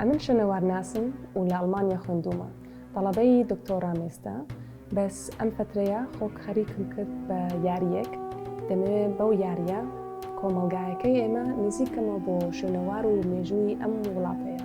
ئەمن شوێنەوارناسم و لە ئەڵمانیا خوێندومە تەڵەبەی دکتۆرا مێستا بەس ئەم فترەیە خۆک خەریکم کرد بە یاریەک دەمەوێت بەو یاریە کۆمەلگایەکەی ئێمە نزیکەمە بۆ شوێنەوار و مێژووی ئەم وڵاتەیە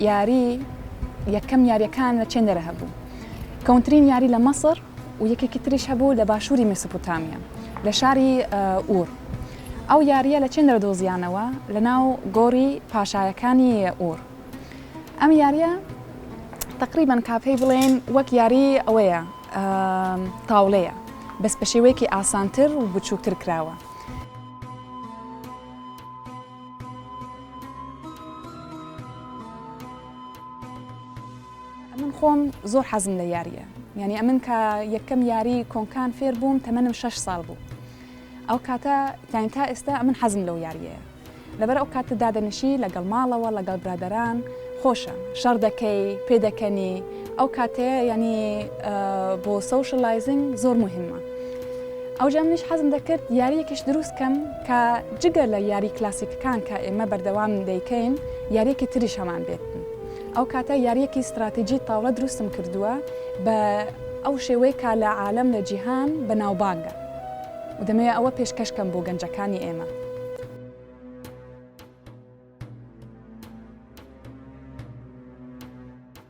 یاری یەکەم یاریەکان لە چێندەرە هەبوو کەونترین یاری لە مەسر و یەکێکی تریش هەبوو لە باشووری میسوپوتامیا لە شاری ئور ئەو یاریە لە چێندەرە دۆزیانەوە لە ناو گۆری پاشایەکانی ئور ئەم یاریە تقریبان کاپەی بڵێن وەک یاری ئەوەیە تاولەیە بەس بە شێوەیەکی ئاسانتر و بچووکتر کراوە. ئەمن خۆم زۆر حەزم لە یاریە یعنی ئەمن کە یەکەم یاری کۆنکان فێر بووم تەمەنم 6 ساڵ بوو ئەو کاتە یان تا ئێستا ئەمن حەزم لەو یاریەیە لەبەر ئەو کاتە دادەنشی لەگەڵ ماڵەوە لەگەڵ برادران خۆشە شەڕ دەکەی پێ دەکەنی ئەو کاتەیە ینی بۆ سوشلایزنگ زۆر مهمە ئەو جامنیش حەزم دەکرد یاریەکیش دروست کەم کە جگە لە یاری کلاسیکەکان کە ئێمە بەردەوام دەیکەین یاریەکی تریش هەمان بێت ئەو کاتە یاریەکی ستراتیجی تاوڵە دروستم کردووە بە ئەو شێوەی کا لە عالەم لە جیهان بە ناوبانگە و دەمەوێ ئەوە پێشکەش کەم بۆ گەنجەکانی ئێمە.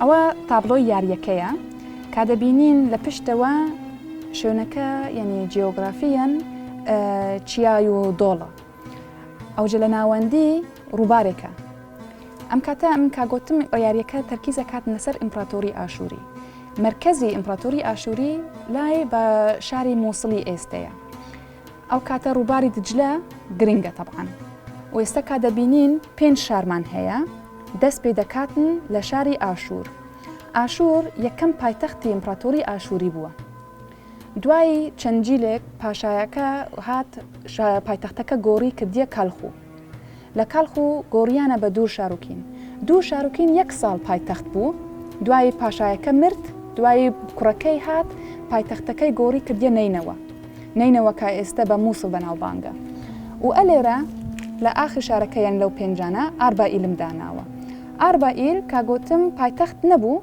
ئەوە تابڵۆی یاریەکەیە کا دەبینین لە پشتەوە شوێنەکە یعنی جیۆگرافیەن چیای و دۆڵە ئەوجە لە ناوەندی ڕووبارێکە ئەم کاتە ئەم کاگوتم یاریەکە تەرکیزە کات لەسەر ئیمپراتۆری ئاشووری مرکزی ئیمپراتۆری ئاشووری لای بە شاری مووسڵی ئێستەیە ئەو کاتە ڕووباری دجلە گرنگە تەبعەن و ئێستا کا دەبینین پێنج شارمان هەیە دەست پێ دەکاتن لە شاری ئاشوور ئاشوور یەکەم پایتەختی ئیمپراتۆری ئاشووری بووە دوایی چەندجیلێک پاشایەکە هات پایتەختەکە گۆڕی کردیە کالخوو لە کاڵخ و گۆڕیانە بە دوور شاروکین دوو شاروکین یەک ساڵ پایتەخت بوو دوایی پاشایەکە مرد دوایی کوڕەکەی هات پایتەختەکەی گۆڕی کردە نەینەوە نەینەوە کە ئێستە بە مووسڵ بەناوبانگە و ئەلێرە لە ئاخری شارەکە یان لەو پێنجانە ئاربائیلم داناوە ئاربائیل کاگوتم پایتەخت نەبوو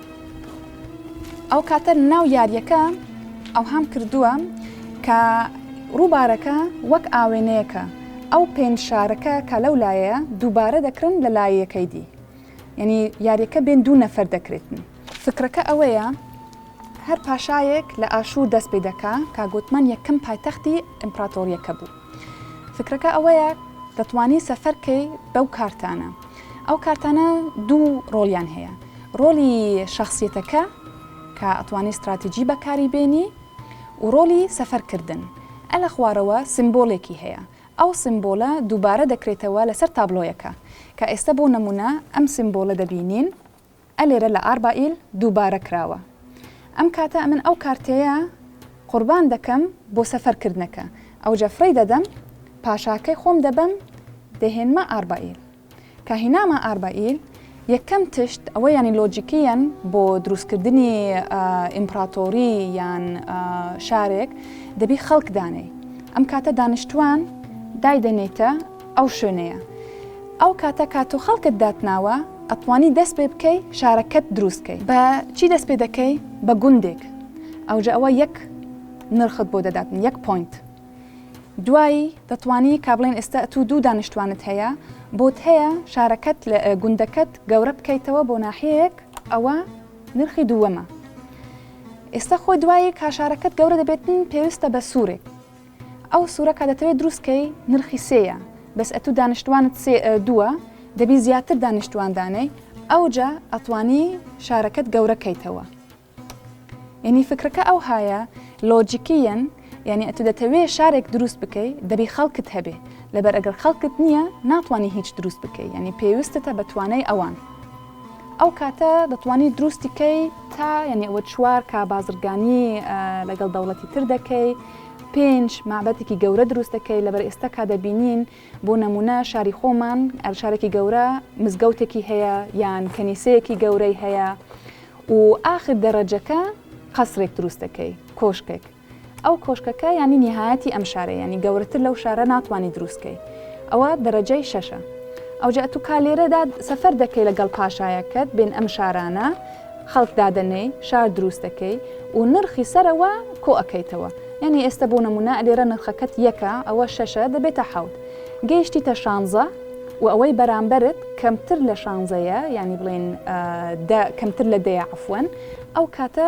ئەو کاتە ناو یاریەکە ئەوهام کردووە کە ڕووبارەکە وەک ئاوێنەیەکە ئەو پێنج شارەکە کە لەو لایەیە دووبارە دەکرن لە لایەکەی دی یعنی یاریەکە بێن دوو نەفەر دەکرێتن فکرەکە ئەوەیە هەر پاشایەک لە ئاشوور دەست پێ دەکا کاگوتمان یەکەم پایتەختی ئەمپراتۆریەکە بوو فکرەکە ئەوەیە دەتوانی سەفەر کەی بەو کارتانە ئەو کارتانە دوو ڕۆلیان هەیە ڕۆلی شخصیتەکە کە ئەتوانی استراتیجی بەکاری بێنی و ڕۆلی سەفەرکردن ئە لە خوارەوە سمبۆلێکی هەیە ئەو سمبۆلە دووبارە دەکرێتەوە لەسەر تابلۆیەکە کە ئێستا بۆ نمونە ئەم سمبۆلە دەبینین ئە لێرە لە ئاربائیل دووبارە کراوە ئەم کاتە ئەمن ئەو کارتێیە قوربان دەکەم بۆ سەفەر کردنەکە ئەوجە فڕی دەدەم پاشاکەی خۆم دەبەم دەهێنمە ئاربائیل کە هینامە ئاربائیل یەکەم تشت ئەوە یانی لۆجیکیەن بۆ دروست کردنی ئیمپراتۆری یان شارێک دەبی خەڵک دانێی ئەم کاتە دانیشتوان دایدەنێیتە ئەو شوێنەیە ئەو کاتە کا تۆ خەڵکت داتناوە ئەتوانی دەست پێ بکەی شارەکەت دروست کەی. بە چی دەست پێ دەکەی؟ بە گوندێک ئەوجە ئەوە یەک نرخت بۆ دەداتن یەک پۆینت دوایی دەتوانی کا بڵێن ئێستا ئەتوو دوو دانیشتوانت هەیە بۆت هەیە شارەکەت لە گوندەکەت گەورە بکەیتەوە بۆ ناحیەیەک ئەوە نرخی دووەمە ئێستا خۆ دوایی کا شارەکەت گەورە دەبێتن پێویستە بە سوورێک. ئەو سورە کە دەتەوێ دروست کەی نرخی سێ یە بەس ئەتو دانیشتوانت سێ دووە دەبی زیاتر دانیشتوان دانێی ئەوجا ئەتوانی شارەکەت گەورە کەیتەوە یعنی فکرەکە ئەو هایە لۆجیکیەن یعنی ئەتو دەتەوێ شارێک دروست بکەی دەبی خەڵکت هەبێ لەبەر ئەگەر خەڵکت نییە ناتوانانی هیچ دروست بکەی یعنی پێویستتە بە توانای ئەوان ئەو کاتە دەتوانی دروستی کەی تا یعنی ئەوە چوار کا بازرگانی لەگەڵ دەوڵەتی تر دەکەی پێنج مابەتێکی گەورە دروست دەکەی لەبەر ئێستا کا دەبینین بۆ نمونە شاری خۆمان ئەلشارێکی گەورە مزگەوتێکی هەیە یان کەنیسەیەکی گەورەی هەیە و ئاخر دەڕەجەکە قەسرێک دروست دەکەی کۆشکێک ئەو کۆشکەکە یانی نیهایەتی ئەم شارە یانی گەورەتر لەو شارە ناتوانی دروست کەی ئەوە دەرەجەی شەشە ئەوجە ئەتو کا لێرەدا سەفەر دەکەی لەگەڵ پاشایەکەت بێن ئەم شارانە خەڵک دادەنێی شار دروست دەکەی و نرخی سەرەوە کۆ ئەکەیتەوە یانی ئێستە بۆ نمونە لێرە نرخەکەت یەکە ئەوە شەشە دەبێتە حەوت گەیشتیتە شانزە و ئەوەی بەرامبەرت کەمتر لە شانزەیە یانی بڵێن دە کەمتر لە دەیە عەفوەن ئەو کاتە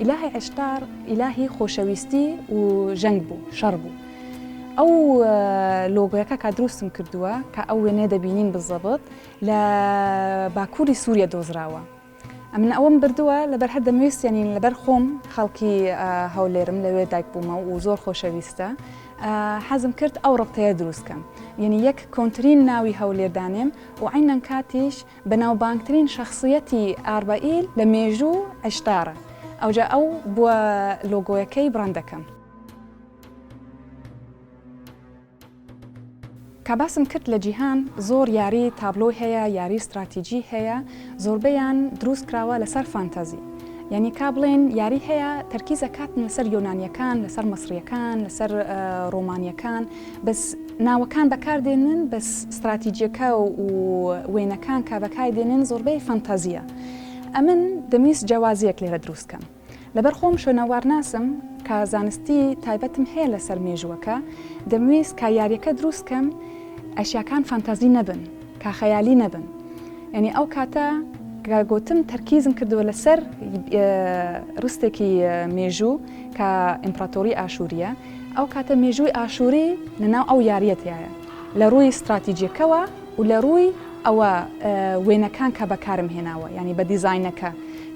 ئیلاهی عیشتار ئیلاهی خۆشەویستی و ژەنگ بوو شەڕ بوو ئەو لۆگۆیەکە کا دروستم کردووە کە ئەو وێنێ دەبینین بزەبت لە باکووری سووریە دۆزراوە ئەمن ئەوەم بردووە لەبەر هەر دەمویستێنین لەبەر خۆم خەڵکی هەولێرم لەوێ دایک بوومە و زۆر خۆشەویستە حەزم کرد ئەو ڕقتەیە دروستکەم یعنی یەک کۆنتترین ناوی هەولێردانێم و عینەن کاتیش بەناوبانگترین شەخسیەتی ئاربەئیل لە مێژوو عشتارە، ئەوجا ئەو بووە لۆگۆیەکەی بڕاندەکەم. کا باسم کرد لە جیهان زۆر یاری تابلۆی هەیە یاری ستراتیجی هەیە زۆربەیان دروست کراوە لەسەر فانتازی یانی کا بڵێن یاری هەیە تەرکیز ئەکاتن لەسەر یۆنانیەکان لەسەر مەسریەکان لەسەر ڕۆمانیەکان بەس ناوەکان بەکار دێنن بەس ستراتیجیەکە و وێنەکان کا بەکای دێنن زۆربەی فەنتازیە ئەمن دەمویست جیاوازیەک لێرە دروست کەم لەبەر خۆم شوێنەوارناسم کا زانستی تایبەتم هەیە لەسەر مێژووەکە دەمویست کا یاریەکە دروست کەم ئەشیاکان فەنتازی نەبن کا خەیالی نەبن یعنی ئەو کاتە کە گوتم تەرکیزم کردووە لەسەر رستێکی مێژوو کە ئیمپراتۆری ئاشووریە ئەو کاتە مێژووی ئاشووری لە ناو ئەو یارییە تیایە لە ڕووی ستراتیجیەکەوە و لە ڕووی ئەوە وێنەکان کە بەکارم هێناوە یانی بە دیزاینەکە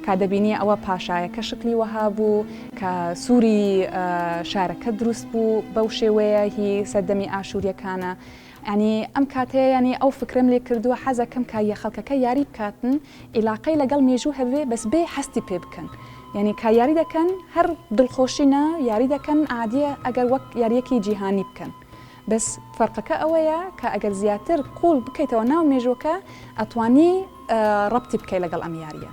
کا دەبینیە ئەوە پاشایەکە شکلی وەها بوو کە سووری شارەکە دروست بوو بەو شێوەیە هی سەردەمی ئاشووریەکانە ئەنی ئەم کاتەیە ینی ئەو فکرم لێ کردووە حەزەکەم کاریە خەڵکەکە یاری بکاتن ئیلاقەی لەگەڵ مێژوو هەبێ بەس بێ هەستی پێ بکەن یانی کا یاری دەکەن هەر دڵخۆشی نا یاری دەکەن عادیە ئەگەر وەک یاریەکی جیهانی بکەن بەس فەرقەکە ئەوەیە کا ئەگەر زیاتر قوڵ بکەیتەوە ناو مێژوەکە ئەتوانی ڕەبتی بکەی لەگەڵ ئەم یاریە.